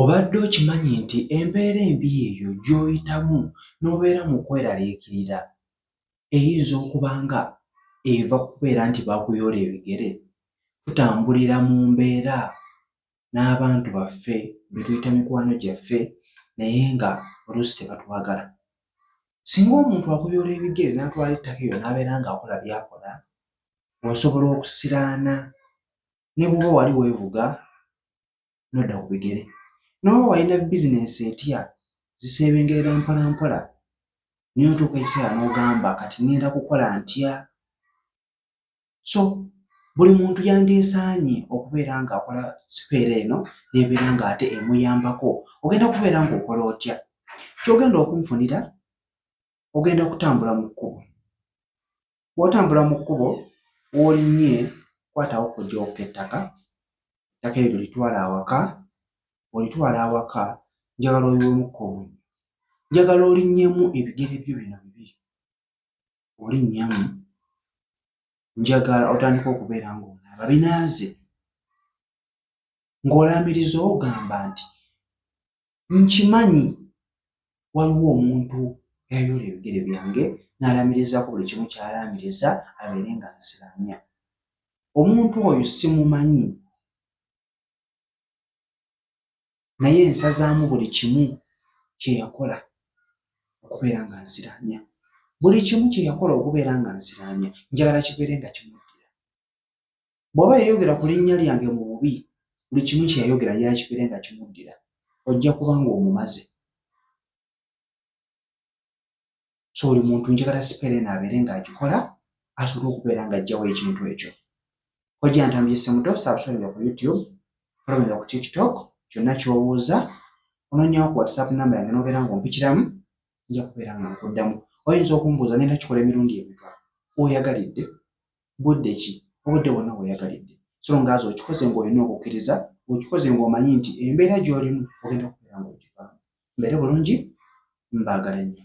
Obadde okimanyi nti embeera embi eyo gy'oyitamu n'obeera mu kweraliikirira eyinza okuba nga eva ku kubeera nti baakuyoola ebigere? Tutambulira mu mbeera n'abantu baffe be tuyita mikwano gyaffe naye nga oluusi tebatwagala. Singa omuntu akuyoola ebigere n'atwala ettaka eryo n'abeera ng'akola by'akola, osobola okusiraana ne bw'oba wali weevuga n'odda ku bigere. N'oba walina bizinensi etya ziseebengerera mpolampola naye otuuka ekiseera n'ogamba kati ŋŋenda kukola ntya? So buli muntu yandyesaanye okubeera ng'akola sipeera eno n'ebeera ng'ate emuyambako. Ogenda kubeera ng'okola otya? Ky'ogenda okunfunira ogenda kutambula mu kkubo. Bw'otambula mu kkubo w'olinnye kwatawo kujooka ettaka, ettaka eryo litwala awaka, olitwala awaka njagala oyiwemukko omunnyo. Njagala olinnyemu ebigere byo bino bibiri, olinnyamu njagala otandika okubeera ng'onaaba binaaze. ng'olaamiriza ogamba nti nkimanyi waliwo omuntu yayoola ebigere byange n'alaamirizaako buli kimu ky'alaamiriza abeere nga nsiramya omuntu oyo simumanyi naye nsazaamu buli kimu kye yakola okubeera nga nsiramya buli kimu kye yakola okubeera nga nsiramya njagala kibeere nga kimuddira bw'oba yayogera ku linnya lyange mu bubi buli kimu kye yayogera yakipere nga kimuddira ojja kuba ng'omumaze so buli muntu njagala sipeera eno abeere ng'agikola asobole okubeera ng'ajjawo ekintu ekyo ojja ntambye semuto sabusoninga ku youtube folominga ku tiktok kyonna ky'obuuza ononyawo ku whatsapp namba yange n'obeera ng'ompikiramu nja kubeera nga nkuddamu oyinza okumbuuza ngenda kikola emirundi emika oyagalidde budde ki obudde bwonna weyagalidde so nga azi okikoze ng'olina okukkiriza okikoze ng'omanyi nti embeera gy'olimu ogenda kubeera ng'ogivaamu mbeere bulungi mbaagala nnyo